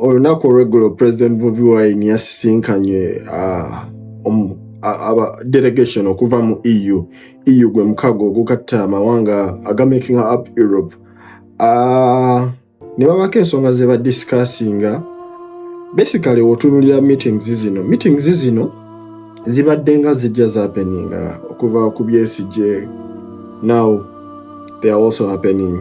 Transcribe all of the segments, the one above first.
olunaku olweggulo president bobi wine yasisinkanye ah, um, aba delegation okuva mu eu eu gwe mukago ogukatta amawanga agamakinga up europe ah, ne babako ensonga ze badiscussinga basically wotunulira meetings zino meetings zino zibadde nga zijja zapeninga okuva ku byesigye now they are also happening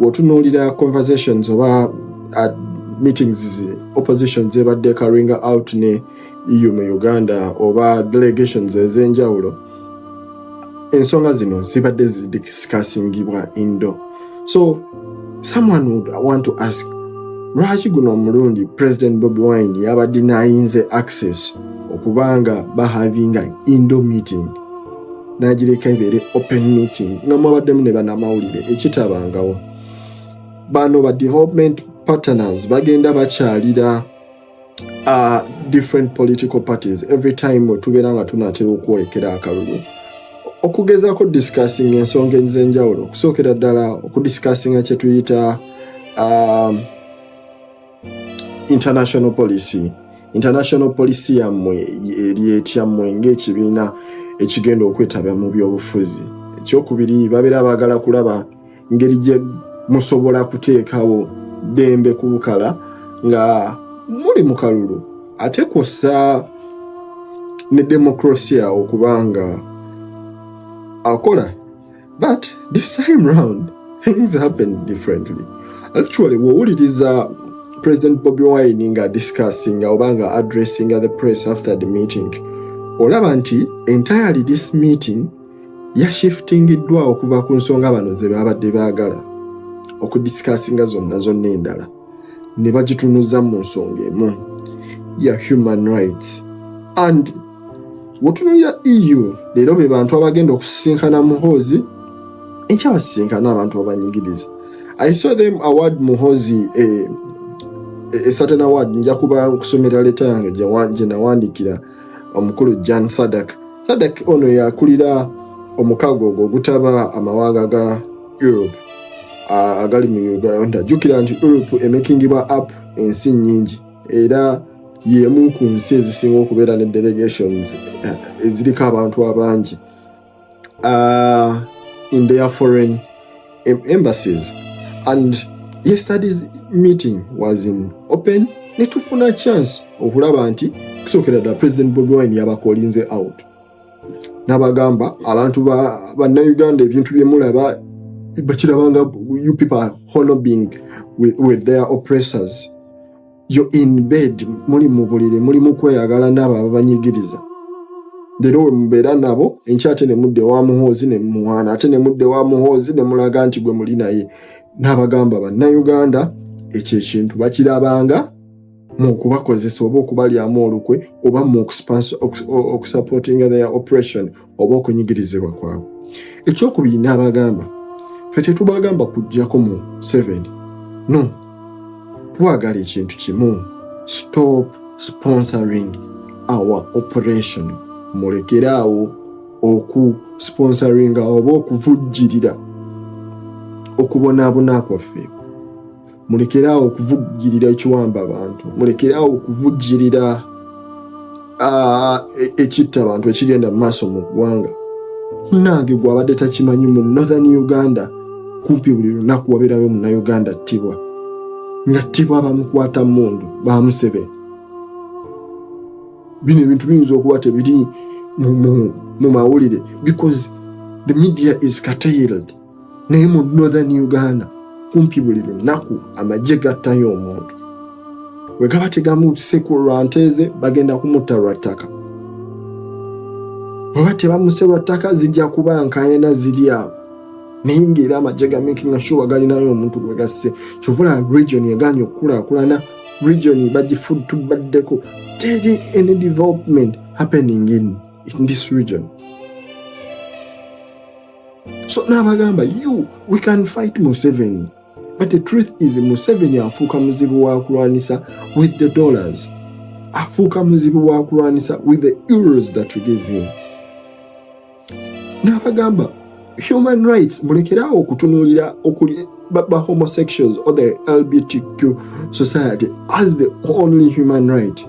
wotunuulira conversations oba uh, meetings ze opposition zebadde karinga out ne eu mu uganda oba delegations ezenjawulo ensonga zino zibadde zidiscussingibwa indo so someone would want to ask lwaki guno omulundi president bobi wine yabadde nayinze access okubanga bahavinga indo meeting n'agireka ebeere open meeting nga mwabaddemu ne banamawulire ekitabangawo bano ba development partners bagenda bakyalira uh, different political parties every time wetubeera nga tunatera okwolekera akalulu okugezaako discussing ensonga ez'enjawulo okusookera ddala okudiscussinga kyetuyita um, international policy international policy yammwe eri etyammwe ng'ekibiina ekigenda okwetaba mu byobufuzi ekyokubiri babeera baagala kulaba ngeri gye musobola kuteekawo ddembe ku bukala nga muli mu kalulu ate kwossa ne demokrasia okuba nga akola but this time round things happened differently actually wowuliriza president bobi wine nga discussinga oba nga addressinga the press after the meeting olaba nti entirely this meeting yashiftingiddwa okuva ku nsonga bano ze babadde baagala okudiscussinga zonna zonna endala ne bagitunuza mu nsonga emu ya human rights and Wotunuulira EU leero be bantu abagenda okusisinkana Muhoozi enkya basisinkana abantu abanyigiriza. I saw them award Muhoozi a, eh, a, eh, a certain award nja kuba nkusomera leta yange gye nawandiikira omukulu Jan Sadak. Sadak ono yakulira omukago ogwo ogutaba amawanga ga Europe agali mu Uganda. Jjukira nti Europe emekingibwa app ensi nnyingi. era y'emu ku nsi ezisinga okubeera ne delegations eh, eziriko abantu abangi ah, in their foreign embassies and yesterday's meeting was in open netufuna chance okulaba nti kusookera ddala president bobi wine yabakolinze out nabagamba abantu bannayuganda ebintu byemulaba bakirabanga you people are hollowing with, with their oppressors yo in bed muli mu buliri muli mu kweyagala naabo ababanyigiriza leero we mubeera nabo enkya ate ne mudde wa muhoozi ne muwaana ate ne mudde wa muhoozi ne mulaga nti gwe muli naye n'abagamba bannayuganda ekyo ekintu bakirabanga mu kubakozesa oba okubalyamu olukwe oba mu okusupportinga their operation oba okunyigirizibwa kwabwe ekyokubiri n'abagamba fe tetubagamba kujjako mu 7 no twagala ekintu kimu stop sponsoring our operation mulekeraawo oku sponsoringa oba okuvujjirira okubonaabona kwaffe mulekeraawo okuvugirira ekiwamba abantu mulekeraawo okuvugirira e, ekitta abantu ekigenda mu maaso mu ggwanga munange gwabadde takimanyi mu northern uganda kumpi buli lunaku wabeerayo munauganda ttibwa nga ttibwa bamukwata mundu bamusebeni bino ebintu biyinza okuba tebiri mu mawulire because the media is curtailed naye mu northern uganda kumpi buli lunaku amagye gattayo omuntu wegaba tegamuse ku lwa nteeze bagenda kumutta lwa ttaka oba tebamuse lwa ttaka zijja kuba nkayana ziri awo naye ngaera amagye ga making sure galinayo omuntu gwegasse kyovula region eganye okukulaakulana region bagifud tubaddeko teri any development happening in, in this region so n'abagamba you we can fight museveni but the truth is museveni afuuka muzibu wa kulwanisa with the dollars afuuka muzibu wa kulwanisa with the euros that you give him n'abagamba human rights mulekerawo okutunuulira okuli ba homosexuals or the lbtq society as the only human right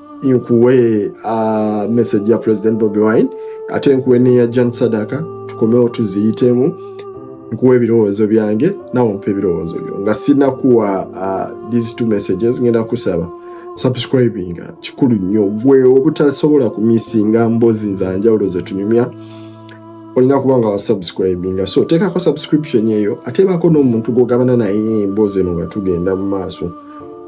nkuwe uh, message ya president bobi wine ate nkuwe neya jan sadaka tukomewo tuziyitemu nkuwa ebirowoozo byange nawe mpa ebirowoozo byo nga sinakuwa uh, these two messages ngenda kusaba subscribing kikulu nnyo gwe obutasobola kumisinga mbozi nzanjawulo zetunyumya olina kuba nga wasubscribinga so teekako subscription eyo ateebako n'omuntu gwogabana naye emboozi eno nga tugenda mu maaso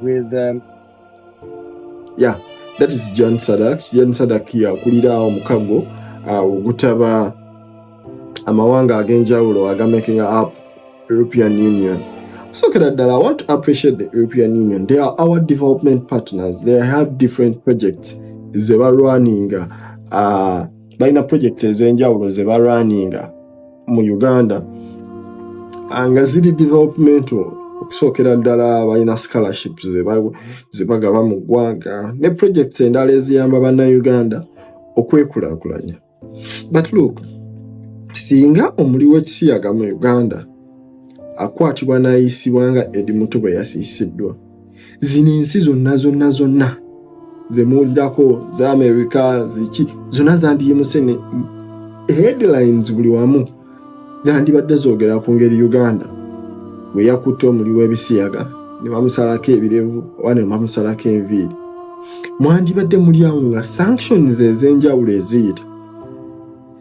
with um, yeah that is Jan Sadak Jan Sadak yakulira omukago uh, ogutaba amawanga ag'enjawulo aga making up European Union sookera ddala I want to appreciate the European Union they are our development partners they have different projects ze balwaninga uh, balina projects ez'enjawulo ze balwaninga mu uganda ah, nga ziri developmental okusookera ddala balina scholarship zebagaba mu ggwanga ne projects endala eziyamba bannauganda okwekulakulanya but look singa omuli w'ekisiyaga mu uganda akwatibwa n'ayisibwa nga edi muto bwe yasiisiddwa zino ensi zonna zonna zonna zemuwulirako za amerika ziki zonna zandiyimuse ne headlines buli wamu zandibadde zogera ku ngeri uganda bwe yakutte omuli w'ebisiyaga ne bamusalako ebirevu oba ne bamusalako enviiri mwandibadde muli awo nga sanctions ez'enjawulo eziyita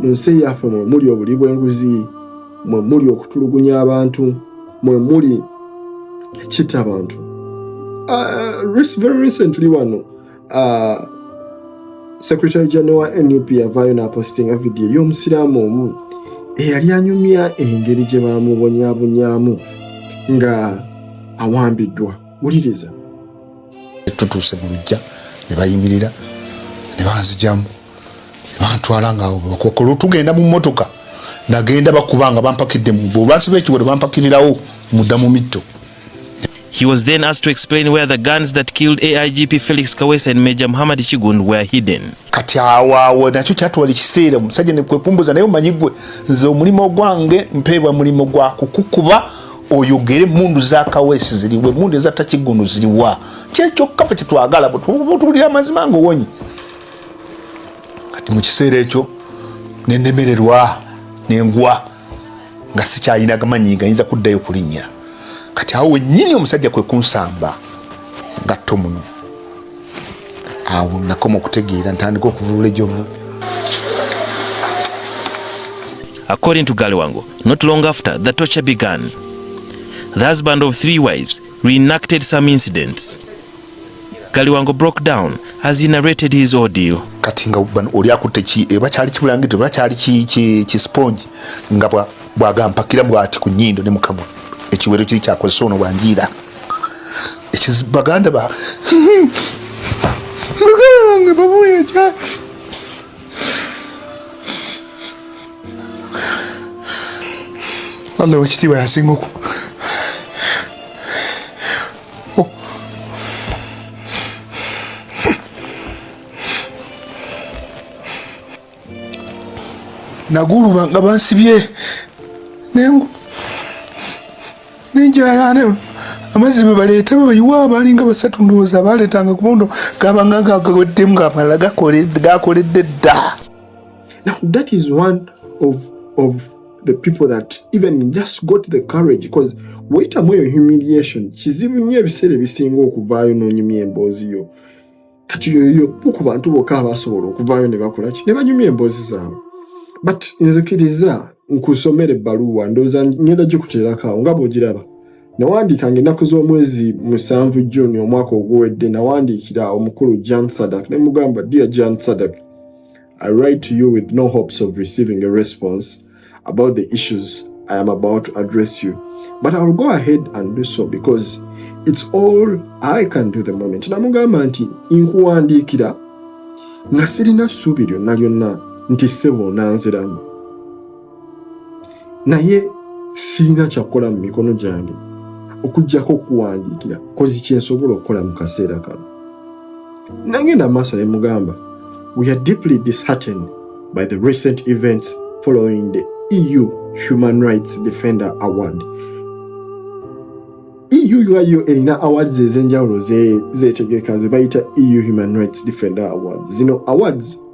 mu nsi yaffe mwe muli obuli bw'enguzi mwe muli okutulugunya abantu mwe muli ekita abantu uh, very recently wano uh, secretary general wa nup yavaayo n'apostinga vidiyo y'omusiraamu omu eyali anyumya engeri gye baamubonyabonyamu nga awambiddwa wuliriza tutuuse mu lujja ne bayimirira ne banzijamu ne bantwala ngaawo bebakokola otugenda mu mmotoka nagenda bakuba nga bampakidde mu bo olwansi lw'ekiwero bampakirirawo mudda mu mitto He was then asked to explain where the guns that killed AIGP Felix Kawesa and Major Muhammad Chigund were hidden. Kati awawo nakyo kyatwala ekiseera omusajja ne kwekumbuza naye omanyi gwe nze omulimo gwange mpeebwa mulimo gwa kukukuba oyogere emundu za kawesi ziriwa emundu eza takigunu ziriwa kyekyokka fe kyetwagala butubulira amazima nga owonyi kati mu kiseera ekyo nenemererwa nengwa nga sikyalina gamanyi gayinza kuddayo kulinnya kati awo wenyini omusajja kwe kunsamba ngatto muno awo nakoma okutegeera ntandika okuvulula ejovu According to Galiwango, not long after the torture began, the husband of three wives reenacted some incidents. Galiwango broke down as he narrated his ordeal. Kati nga oli akutte ki eba kyali kibulangito eba kyali ki ki ki sponge nga bwa bwagampakira bwati ku nyindo ne mukamwa ekiwero kiri kyakozesa ono bwanjiira baganda ba muganda wange babuya ekya Allah wekitiibwa yasinga oku naguluba nga bansibye nengu nenjayana amazzi bebaleeta bebayiwa abalinga basatu ndowooza abaleetanga kubondo gabanga gagaweddemu ngamala gakoledde dda now that is one of, of the people that even just got the courage because wayitamu eyo humiliation kizibu nnyo ebiseera ebisinga okuvaayo n'onyumya emboozi yo kati yoyo ku bantu bokka abasobola okuvaayo ne bakolaki ne banyumya emboozi zaabwe but nzikiriza nkusomera ebbaluwa ndowooza ngenda gikuteerakawo nga bwogiraba nawandiika nga ennaku z'omwezi musanvu juni omwaka oguwedde nawandiikira omukulu jan sadak ne mugamba dear jan sadak i write to you with no hopes of receiving a response about the issues I am about to address you. But I'll go ahead and do so because it's all I can do the moment. Namugamba nti nkuwandiikira nga sirina ssuubi lyonna lyonna nti ssebo onanziramu. Naye sirina kyakukola mu mikono gyange okuggyako okuwandiikira kozi kyensobola okukola mu kaseera kano. nangenda maaso ne mugamba we are deeply disheartened by the recent events following the EU Human Rights Defender Award EUIO erina awards ez'enjawulo zeetegeka ze bayita EU Human Rights Defender Awards zino awards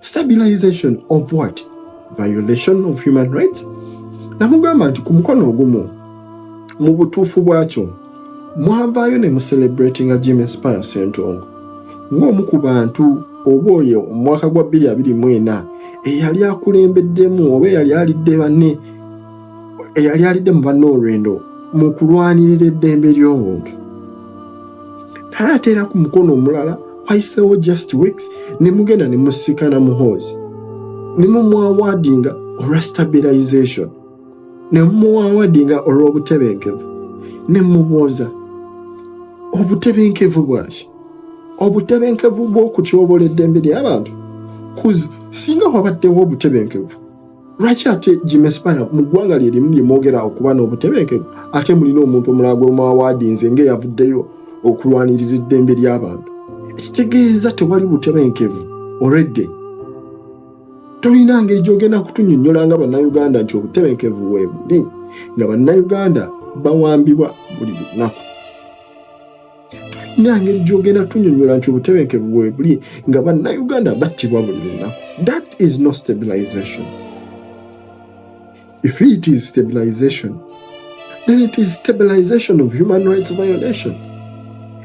stabilization of what violation of human rights namugamba nti ku mukono ogumu mu butuufu bwakyo mwavaayo ne mucelebratinga jim espire sentongo ng'omu ku bantu oba oyo omwaka gwa 224 eyali akulembeddemu oba eyali alidde banne eyali alidde mu banna olwendo mu kulwanirira eddembe ly'omuntu naye ate era ku mukono omulala wayiseewo just weeks ne mugenda ne musikana muhoozi ne mumwawaadinga olwa stabilization ne mumwawaadinga olw'obutebenkevu ne mubuuza obutebenkevu bwaki obutebenkevu bw'okutyobola eddembe ly'abantu singa wabaddewo obutebenkevu lwaki ate gimespire mu ggwanga lye limu lye mwogera okuba n'obutebenkevu ate mulina omuntu omulala gwe mwawaadinze ng'eyavuddeyo okulwanirira eddembe ly'abantu ekitegeeza tewali butebenkevu oredde tolina ngeri gy'ogenda kutunyonnyola nga bannayuganda nti obutebenkevu weebuli nga bannayuganda bawambibwa buli lunaku tulina ngeri gyogenda tunyonyola nti obutebenkevu bwebuli nga bannayuganda battibwa buli lunaku that is no stabilization if it is stabilization then it is stabilization of human rights violation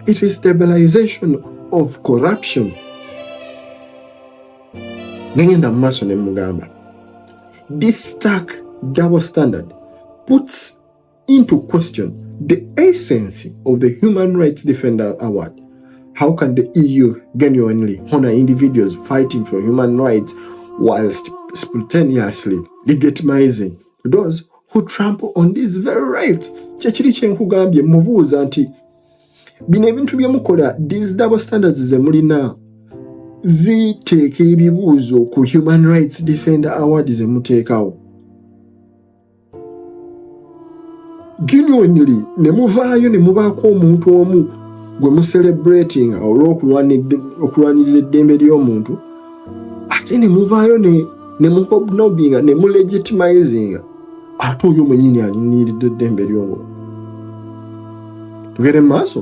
it is stabilization of corruption nengenda mu maaso ne mugamba this stack double standard puts into question the essence of the Human Rights Defender Award. How can the EU genuinely honor individuals fighting for human rights whilst spontaneously legitimizing those who trample on this very right? kyekiri kyenkugambye mubuuza nti bino ebintu byemukola these double standards zemulina ziteeka ebibuuzo ku human rights defender award zemuteekawo genuinely ne muvaayo ne mubaako omuntu omu gwe mucelebratinga olwokulwanirira eddembe ly'omuntu ate ne muvaayo ne muhobnobinga ne mulegitimizinga ate oyo mwenyini aliniridde eddembe ly'omuntu tugere mu maaso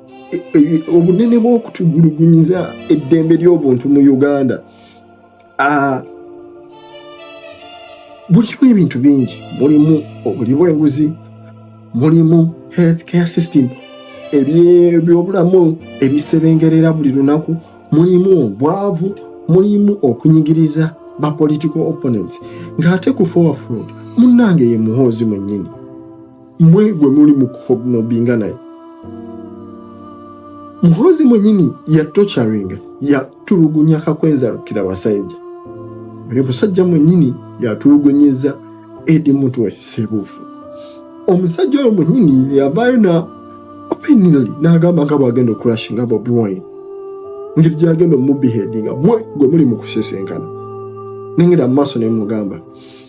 e, e, obunene bw'okutugulugunyiza eddembe ly'obuntu mu uganda bulimu ebintu bingi mulimu obuli bw'enguzi mulimu health care system ebyobulamu ebisebengerera buli lunaku mulimu obwavu mulimu okunyigiriza ba political opponents ng'ate ku forward munange ye muhoozi mwennyini mwe gwe muli mu kuhobnobinga naye muhozi mwenyini ya tocharinga ya tulugunya kakwenza rukira wasaija oyo musajja mwenyini yatulugunyeza edi muntu wakisebufu omusajja oyo mwenyini yavayo na openly nagamba nga bwagenda okurashinga bobi wine ngeri gyagenda omubihedinga mwe gwe muli mu kusesenkana nengera mu maaso nemugamba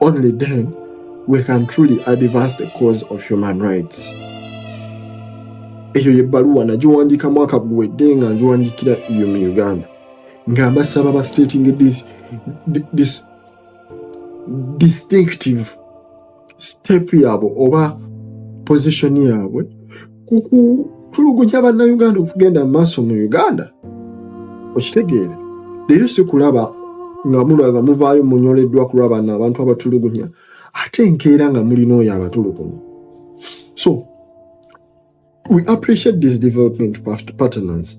Only then we can truly advance the cause of human rights. eyo yebbaluwa nagiwandiika mwaka guwedde nga ngiwandiikira eyo mu uganda nga mbasaba ba stating this, this distinctive step yaabwe oba position yaabwe ku kutulugunya bannayuganda okugenda mu maaso mu uganda okitegeere leero sikulaba nga mulaba muvaayo munyoleddwa ku lwabana abantu abatulugunya ate enkeera nga mulina oyo abatulugunya so we appreciate these development partners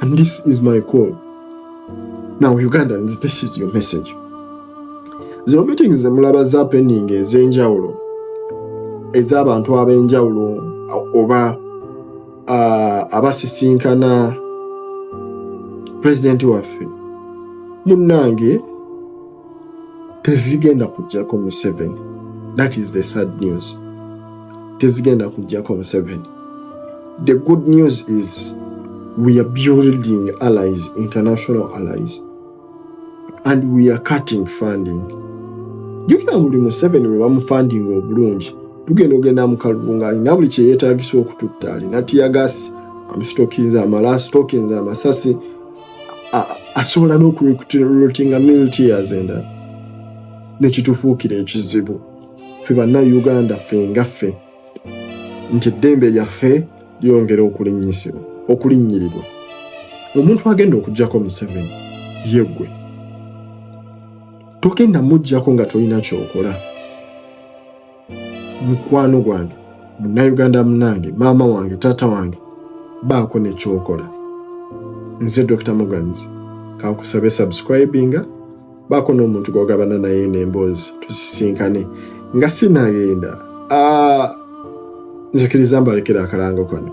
And this is my call. Now Ugandans, this is your message. Zino meetings zemulaba za pending ez'enjawulo ez'abantu ab'enjawulo oba uh, abasisinkana pulezidenti waffe munnange tezigenda kujjako museveni that is the sad news tezigenda kujjako museveni the good news is we are building allies international allies and we are cutting funding jukira buli museveni we bamufundinga obulungi tugenda ogenda mukalulu nga alina buli kyeyetagisa okututta alina tiyagasi amusitokinza amala asitokinza amasasi asobola n'okurecruitinga militias endala nekitufuukira ekizibu fe bannauganda ffe nga ffe nti eddembe lyaffe lyongera okulinnyisibwa okulinnyirirwa omuntu agenda okugyako museveni yeggwe togenda mujjako nga tolina kyokola mukwano gwange munnayuganda munange maama wange taata wange baako nekyokola nze dr mogans kankusabe subscribinga baako n'omuntu gwogabana naye nemboozi tusisinkane nga sinagenda ah, nzikiriza mbalekera akalango kano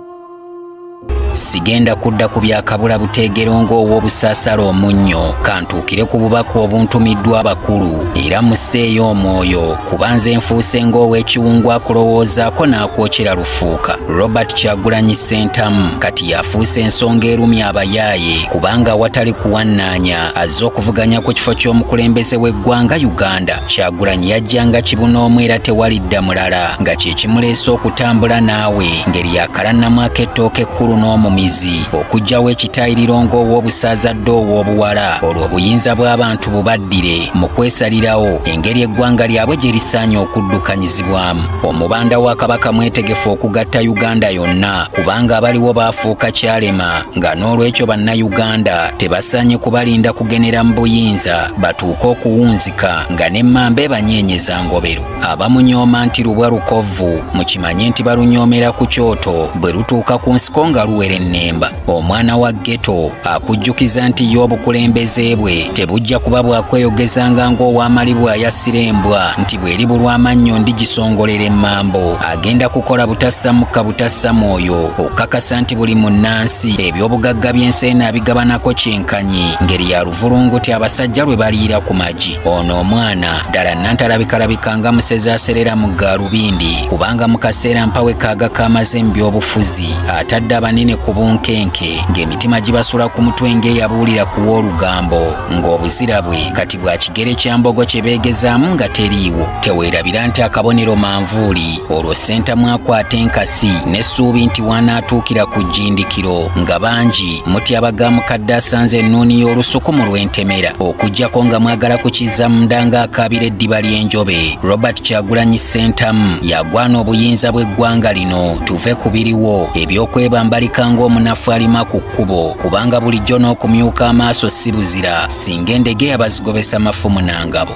sigenda kudda ku byakabula buteegero ng'ow'obusaasala omunnyo kantuukire ku bubaka obuntumiddwa abakulu era musseeyo omwoyo kuba nze nfuuse ng'ow'ekiwungu akulowoozaako n'akwokyera lufuuka robert kyagulanyi sentamu kati yafuuse ensonga erumya abayaaye kubanga awatali kuwannaanya azze okuvuganya ku kifo ky'omukulembeze w'eggwanga uganda kyagulanyi yajjanga kibunoomu era tewalidda mulala nga kyekimuleese okutambula naawe ngeri yakalannamu ak'ettooka ekkulu n'omumizi okugyawo ekitayiriro ng'ow'obusaaza dde ow'obuwala olwo obuyinza bw'abantu bubaddire mu kwesalirawo engeri eggwanga lyabwe gye lisaanye okuddukanyizibwamu omubanda wa kabaka mwetegefu okugatta uganda yonna kubanga abaliwo baafuuka kyalema nga n'olwekyo bannayuganda tebasaanye kubalinda kugenera mu buyinza batuuke okuwunzi Ka nga ne mmamba ebanyeenyeza ngobero abamunyooma nti lubwa lukovvu mukimanye nti balunyoomera ku kyoto bwe lutuuka ku nsiko nga luwerennemba omwana wa geto akujjukiza nti ye obukulembeze bwe tebujja kuba bwakweyogezanga ng'owamali bw'ayassira embwa nti bw'eri bulwamannyo ndigisongolera emmambo agenda kukola butassa mukka butassa mwoyo okukakasa nti buli munnansi ebyobugagga by'ensi eno abigabanako kyenkanyi Nyi ngeri ya luvulunguti abasajja lwe baliira ku magi ono omwana ddala nantalabikalabika nga musezi aserera mu gaalubindi kubanga mu kaseera mpawe kaaga kaamaze mu byobufuzi atadde abanene ku bunkenke ng'emitima gibasula ku mutwe ng'eyabuulira ku w'olugambo ng'obuzira bwe kati bwa kigere kya mbogo kye beegezaamu nga teriiwo teweerabira nti akabonero manvuuli olwo ssentamu akwata enkasi n'essuubi nti wanaatuukira ku jjindikiro nga bangi mutyaba ga mukadde asanze ennuuni y'olusuku mu lw'entemera okugyako nga mwagala kukizza munda ng'akaabira eddiba ly'enjobe robert kyagulanyi ssentamu yagwana obuyinza bw'eggwanga lino tuve ku biriwo ebyokwebambalika ng'omunafu alima ku kkubo kubanga bulijjo n'okumyuka amaaso si buzira singa endegeya bazigobesa mafumu na ngabo